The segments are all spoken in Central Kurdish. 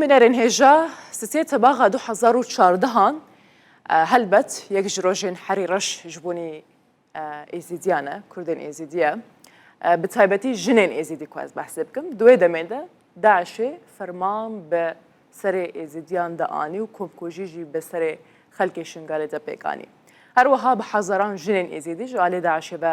منەرێن هێژا سسێ تەباغا دو هەزار و چاردە هان هەلبەت یەک ژ رۆژێن حەری رەش ژ بونی ئێزیدیانە، کوردێن ئێزیدیە بە تایبەتی ژنێن ئێزیدی کواز بەحسێ بکەم دوێ دەمێدە داعشێ فەرمان بە سەرێ ئێزیدیان دە ئانی و کۆمکوژی ژی بە سەرێ خەلکێ شنگالێ دە پێکانی. هەروەها بە حەزەران ژنێن ئێزیدی ژ ئالێ داعشێ بە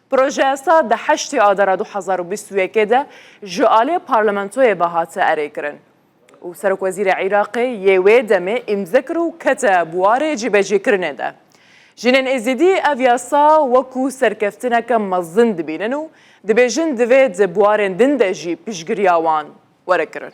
پرۆژەیاسا دە هەشتێ ئادارا دو هەزار و بیست و یەک ێدە ژە ئالێ پارلمەنتۆێ بە هاتە ئەرێ کرن و سەرۆک وەزیرە عیراقێ یێ وێ دەمێ ئیمزە کر و کەتە بوارێ جیبەجی کرنێ دە. ژنێن ئێزیدی ئەڤ یاسا وەکو سەرکەفتنەکە مەزن دبینن و دبێژن دڤێ دە بوارێن دن دە ژی پشگریا وان وەرە کرن.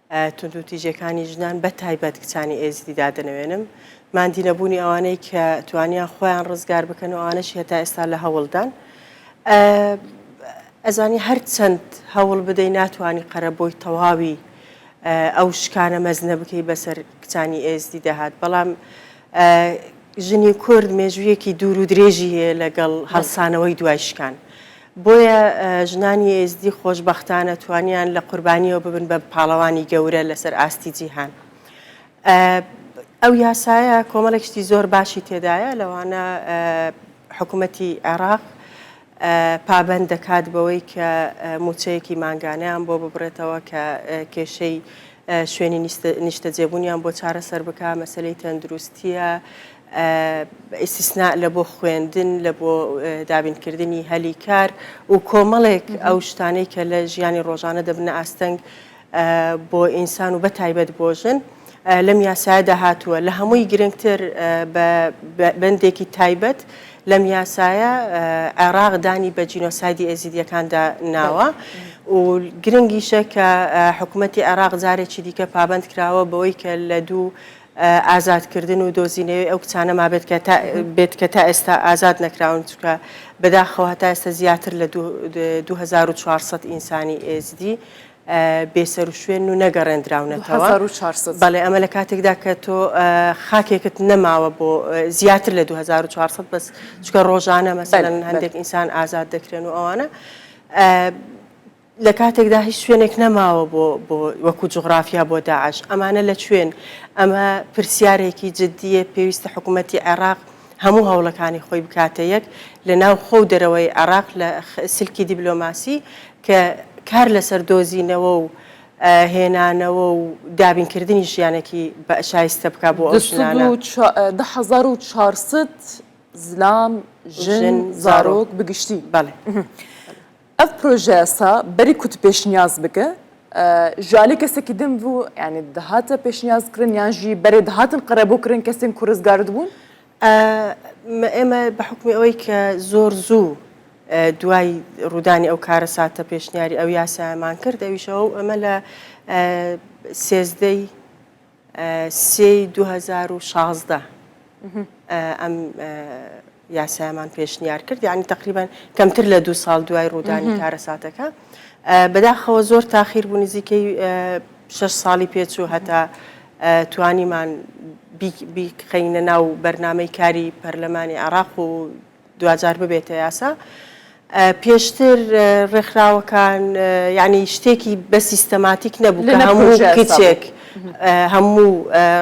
توندوتیژیەکانی ژنان بە تایبەت کچانی ئێزدی دادەنەوێنم، ماندی نەبوونی ئەوانەی کە توانیان خۆیان ڕزگار بکەن و ئەوانەشی هەتا ئێستا لە هەوڵدان. ئەزانی هەر چەند هەوڵ بدەی ناتوانانی قەرە بۆی تەواوی ئەو شکانە مەزنە بکەی بەسەر کچانی ئێزدی دەهات بەڵام ژنی کورد مێژوویەکی دوور و درێژی هەیە لەگەڵ هەڵسانەوەی دوای شکان. بۆیە ژنانی ئێزدی خۆشبەختانە توانیان لە قوربانیەوە ببن بە پاڵەوانی گەورە لەسەر ئاستی جیهان. ئەو یاسایە کۆمەڵێک شتی زۆر باشی تێدایە لەوانە حکوومەتی عێراق پابەند دەکات بەوەی کە موچەیەکی مانگانیان بۆ ببڕێتەوە کە کێشەی شوێنی نیشتەجێبوونیان بۆ چارەسەر بکە مەسلەی تەندروستیە، ئیستیسناء لە بۆ خوێندن، لە بۆ دابینکردنی هەلی کار و کۆمەڵێک ئەو شتانەی کە لە ژیانی ڕۆژانە دەبنە ئاستەنگ بۆ ئینسان و بەتایبەت بۆ ژن، لەم یاسایەدا هاتووە. لە هەمووی گرنگتر بە بەندێکی تایبەت لەم یاسایە عێراق دانی بە جینۆسایدی ئێزیدییەکاندا ناوە و گرنگیشە کە حکوومەتی عێراق جارێکی دیکە پابەند کراوە بەوەی کە لە دوو ئازادکردن و دۆزینەوەی ئەو کچانە مابێت کە تا بێت کە تا ئێستا ئازاد نەکراون چونکە بەداخەوە هەتا ئێستا زیاتر لە دوو هەزار و چوار سەد ئینسانی ئێزدی بێسەروشوێن و نەگەڕێندراونەتەوە هەزار و چوار سەد بەڵێ ئەمە لە کاتێکدا کە تۆ خاکێکت نەماوە بۆ زیاتر لە دوو هەزار و چوار سەد بەس چونکە ڕۆژانە مەسەلەن هەندێک ئینسان ئازاد دەکرێن و ئەوانە لە کاتێکدا هیچ شوێنێک نەماوە بۆ بۆ وەکو جوغرافیا بۆ داعش ئەمانە لە کوێن ئەمە پرسیارێکی جددیە پێویستە حکوومەتی عێراق هەموو هەوڵەکانی خۆی بکاتە یەک لە ناو خۆ و دەرەوەی عێراق لە سلکی دیبلۆماسی کە کار لەسەر دۆزینەوە و هێنانەوە و دابینکردنی ژیانێکی بە شایستە بکە بۆ ئەو ژنانە دە هەزار و چارسد زلام ژن زارۆک بگشتی بەڵێ. ئەڤ پرۆژەیەسە بەری کوت پێشنیاز بکە ژالی کەسەکی دن ڤوو یانی دهاتە پێشنیاز کرن یان ژی بەرێ دهاتن قەرەبوو کرن کەسین کو رزگارد بوون؟ ئە مە ئێمە بە حوکمی ئەوەی کە زۆر زوو ئە دوای روودانی ئەو کارەساتە پێشنیاری ئەو یاسایەمان کرد ئەویشەوە ئەمە لە ئە سێزدە ی سێ ی دوو هەزار و شازدە ئەم یاسایەمان پێشنیار کرد یعنی تقریبا کەمتر لە دوو ساڵ دوای ڕوودانی کارەساتەکە بەداخەوە زۆر تاخیر بوو نزیکەی شش ساڵی پێچوو هەتا توانیمان بیخینە ناو بەرنمەی کاری پەرلەمانی عراق و دواجار ببێتە یاسا پێشتر ڕێکخراوەکان یعنی شتێکی بە سیستەماتیک نەبوو کە هەموو کچێک هەموو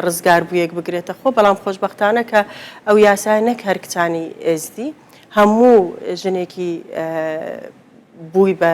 ڕزگاربوویەک بگرێتە خۆ بەڵام خۆشببختانە کە ئەو یاسای نەک هەر کچانی ئێزدی هەموو ژنێکی بووی بە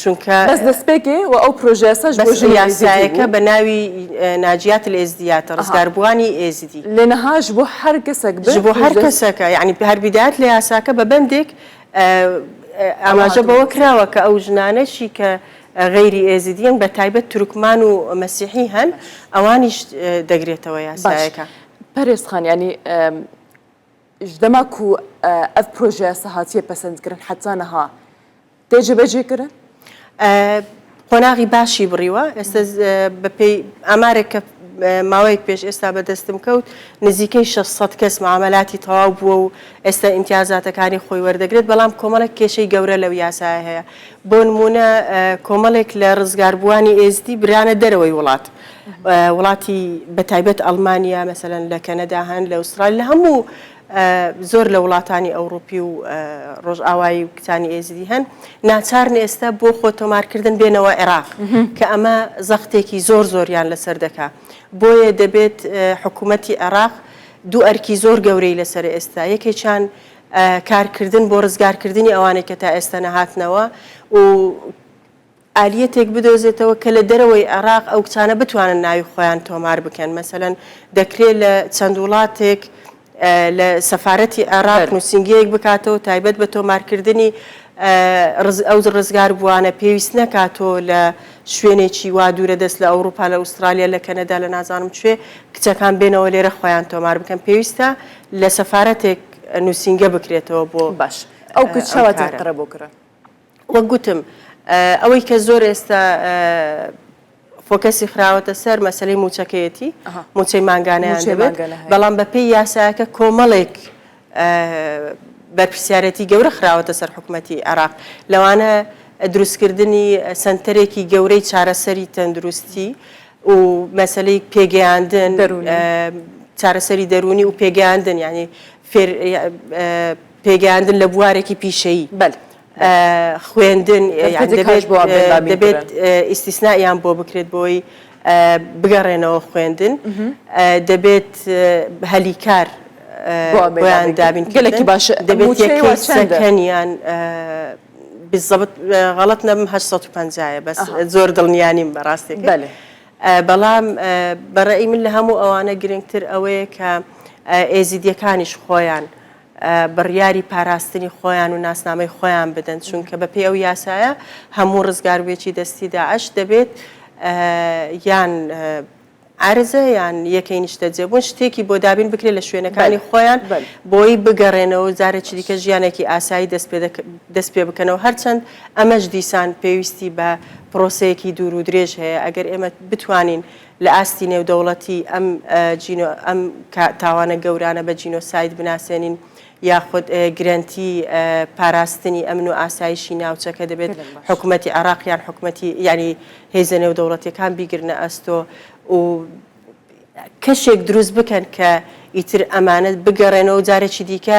چونکە بەس دەسپێکێ و ئەو پرۆژەیاساش بۆ ژنی ئێزیدی بوو. بەس یاسایەکە بە ناوی ناجیات الازدیات، ڕزگاربووانی ئێزیدی. لێنها ژ بۆ هەر کەسەک بێت. ژ بۆ هەر کەسەکە، یەعنی هەر بیدات لە یاساکە بە بەندێک ئاماژە بەوە کراوە کە ئەو ژنانەشی کە غەیری ئێزیدییەن بە تایبەت تورکمان و مەسیحی هەن ئەوانیش دەگرێتەوە یاسایەکە. باش پەرێز خان یەعنی ژ دەما کو ئەڤ پرۆژەیاسا هاتییە پەسەندکرن حەتانها، دەی جێبەجێ کرد؟ قۆناغی باشی بڕیوە ئێستا بەپێی ئامارێک کە ماوەیەک پێش ئێستا بەدەستم کەوت نزیکەی 600 کەس معاملاتی تەواو بووە و ئێستا ئیمتیازاتەکانی خۆی وەردەگرێت بەڵام کۆمەڵێک کێشەی گەورە لەو یاسایە هەیە بۆ نمونە کۆمەڵێک لە ڕزگاربووانی ئێزدی برانە دەرەوەی وڵات وڵاتی بەتایبەت ئەڵمانیا مەسەن لە کەنەدا هەن لە ئوسترال لە هەموو زۆر لە وڵاتانی ئەوڕوپی و ڕۆژئاوایی و کچانی ئێزدی هەن ناچارن ئێستا بۆ خۆ تۆمارکردن بێنەوە عێراق کە ئەمە زەختێکی زۆر زۆریان لەسەر دەکا بۆیە دەبێت حکوومەتی عێراق دوو ئەرکی زۆر گەورەی لەسەر ئێستا یەکێکیان کارکردن بۆ ڕزگارکردنی ئەوانێک کە تا ئێستا نەهاتنەوە و ئالیەتێک بدۆزێتەوە کە لە دەرەوەی عێراق ئەو کچانە بتوانن ناوی خۆیان تۆمار بکەن مەسەلەن دەکرێ لە چەند وڵاتێک لە سەفارەتی عێراق نوسینگەیەک بکاتەوە تایبەت بە تۆمارکردنی ئەو ڕزگار بووانە پێویست نەکا تۆ لە شوێنێکی وا دوورە دەست لە ئەوروپا لە ئوسترالیا لە کەنەدا لە نازانم کوێ کچەکان بێنەوە لێرە خۆیان تۆمار بکەن پێویستە لە سەفارەتێک نوسینگە بکرێتەوە بۆ باش ئەو کچەوە تێکڕە بۆ کرا. وەک گوتم ئەوەی کە زۆر ئێستا فۆکەسی خراوەتە سەر مەسلەی موچەکەیەتی موچەی مانگانەیان دەبێت بەڵام بە پێی یاساکە کۆمەڵێک بەرپسیارەتی گەورە خراوەتە سەر حکوومەتتی عراق لەوانە دروستکردنی سنتەرێکی گەورەی چارەسەری تەندروستی و مەسلەی پێگەیاندن چارەسەری دەرونی و پێگەیاندن ینی پێگەیاندن لە بوارێکی پیشەیی بەل خوێندن دەبێت ئیسیسنایان بۆ بکرێت بۆی بگەڕێنەوە خوێندن دەبێت هەلی کار بۆیان دابین گەلێکی باش دەبێت یەکەنیان بزەبت غەڵت نەبم 850 بەس زۆر دڵنیانیم بەڕاستێک بەێ. بەڵام بە ڕەئی من لە هەموو ئەوانە گرنگتر ئەوەیە کە ئێزیدیەکانیش خۆیان بڕیاری پاراستنی خۆیان و ناسنامەی خۆیان بدەن چونکە بە پێی ئەو یاسایە هەموو ڕزگاربێکی دەستی داعش دەبێت یان عرزە یان یەکەی نیشتەجێبوون شتێکی بۆ دابین بکرێت لە شوێنەکانی خۆیان بۆی بگەڕێنەوە جارێکی دیکە ژیانێکی ئاسایی دەست پێ بکەنەوە هەرچەند ئەمەش دیسان پێویستی بە پرۆسەیەکی دوور و درێژ هەیە، ئەگەر ئێمە بتوانین لە ئاستی نێودەوڵەتی ئەم جینۆ ئەم تاوانە گەورانە بە جینۆساید بناسێنین یاخود گرەنتی پاراستنی ئەمن و ئاسایشی ناوچەکە دەبێت حکومەتی عێراق یان حکومەتی یانی هێزە نێودەوڵەتیەکان بیگرنە ئەستۆ و کەشێک دروست بکەن کە ئیتر ئەمانە بگەڕێنەوەو جارێکی دیکە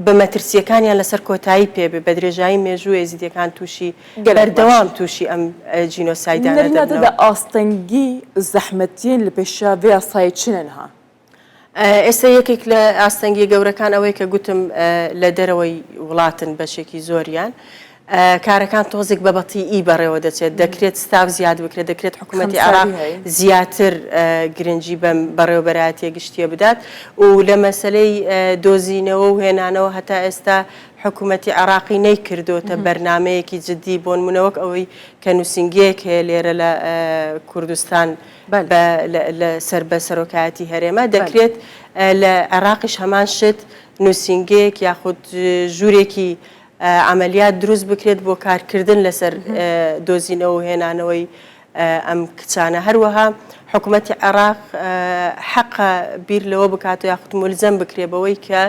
بە مەترسییەکانیان لەسەر کۆتایی پێبێ، بە درێژایی مێژوو ئێزیدییەکان تووشی بەردەوام تووشی ئەم جینۆسایدانە دەبنەوە. نەرینا دەدە ئاستەنگی زەحمەتیین لە پێشا ڤێ یاسایە چنن ها؟ ئێستا یەکێک لە ئاستەنگییە گەورەکان ئەوەیە کە گوتم لە دەرەوەی وڵاتن بەشێکی زۆریان، کارەکان تۆزێک بە بەتیی بەڕێوە دەچێت، دەکرێت ستاف زیاد بکرێت، دەکرێت حکومەتی عێراق زیاتر گرنگی بەم بەڕێوەبەرایەتییە گشتییە بدات و لە مەسەلەی دۆزینەوە و هێنانەوە هەتا ئێستا حکومەتی عێراقی نەیکردۆتە بەرنامەیەکی جددی، بۆنموونە وەک ئەوەی کە نووسینگەیەک هەیە لێرە لە کوردستان سەر بە سەرۆکایەتی هەرێمە، دەکرێت لە عێراقیش هەمان شت نووسینگەیەک یاخود ژوورێکی عەمەلیات دروست بکرێت بۆ کارکردن لەسەر دۆزینەوە و هێنانەوەی ئەم کچانە، هەروەها حکومەتی عێراق حەقە بیر لەوە بکات یاخود مولزەم بکرێت بەوەی کە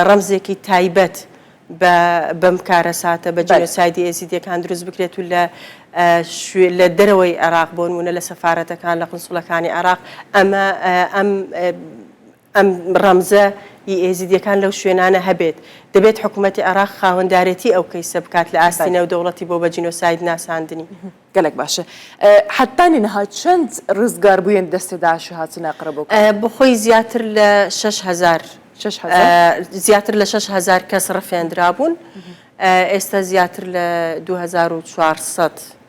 ڕەمزێکی تایبەت بە بەم کارەساتە بە جینۆسایدی ئێزیدیەکان دروست بکرێت و لە لە دەرەوەی عێراق بۆنمونە لە سەفارەتەکان لە قونسوڵەکانی عێراق ئەمە ئەم ئەم ڕەمزە ی ئێزیدیەکان لەو شوێنانە هەبێت، دەبێت حکومەتی عێراق خاوەندارێتی ئەو کەیسە بکات لە ئاستی نێودەوڵەتی بۆ بە جینۆساید ناساندنی. گەلەک باشە حەتانی نها چەند رزگار بویەن دەستی داعشی هاتنە قرە بۆ کەرکوک؟ بۆ خۆی زیاتر لە شەش هەزار شەش هەزار زیاتر لە شەش هەزار کەس رفێندرابوون ئێستا زیاتر لە دوو هەزار و چوار سەد.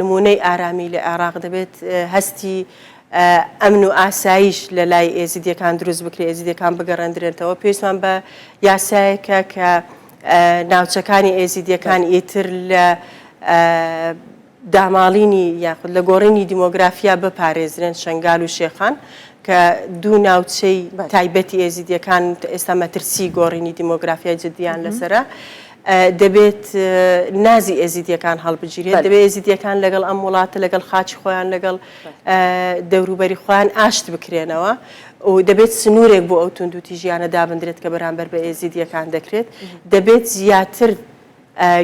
نموونەی ئارامی لە عێراق دەبێت هەستی ئەمن و ئاسایش لە لای ئێزیدیەکان دروست بکرێت ئێزیدیەکان بگەڕێندرێنتەوە پێویستمان بە یاسایەکە کە ناوچەکانی ئێزیدیەکان ئیتر لە داماڵینی یاخود لە گۆڕینی دیمۆگرافیا بپارێزرێن شنگال و شێخان کە دوو ناوچەی تایبەتی ئێزیدیەکان ئێستا مەترسی گۆڕینی دیمۆگرافیای جددیان لەسرە دەبێت نازی ئێزیدیەکان هەڵبگیرێت، دەبێت ئێزیدیەکان لەگەڵ ئەم وڵاتە، لەگەڵ خاکی خۆیان، لەگەڵ دەوروبەری خۆیان ئاشت بکرێنەوە و دەبێت سنوورێک بۆ ئەو توندوتیژیانە دابندرێت کە بەرامبەر بە ئێزیدیەکان دەکرێت، دەبێت زیاتر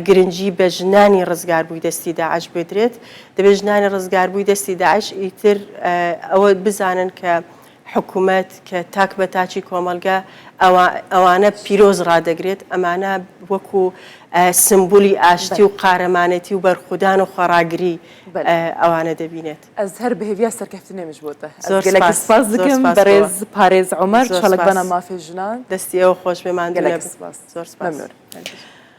گرنگی بە ژنانی ڕزگاربووی دەستی داعش بدرێت، دەبێت ژنانی ڕزگاربووی دەستی داعش ئیتر ئەوە بزانن کە، حکومەت کە تاک بە تاکی کۆمەڵگە ئەوانە پیرۆز ڕادەگرێت، ئەمانە وەکو سمبولی ئاشتی و قارەمانێتی و بەرخودان و خۆڕاگری ئەوانە دەبینێت. ئەز هەر بهڤیا سەرکەفتن ئەمیش بۆتە. زۆر گەلەک سپاس دکم بەرێز پارێز عومەر چاڵکبانە مافێ ژنان. دەستی ئێوە خۆشبێ ماندونەبن. گەلەک سپاس. زۆر سپاس. مەمنون.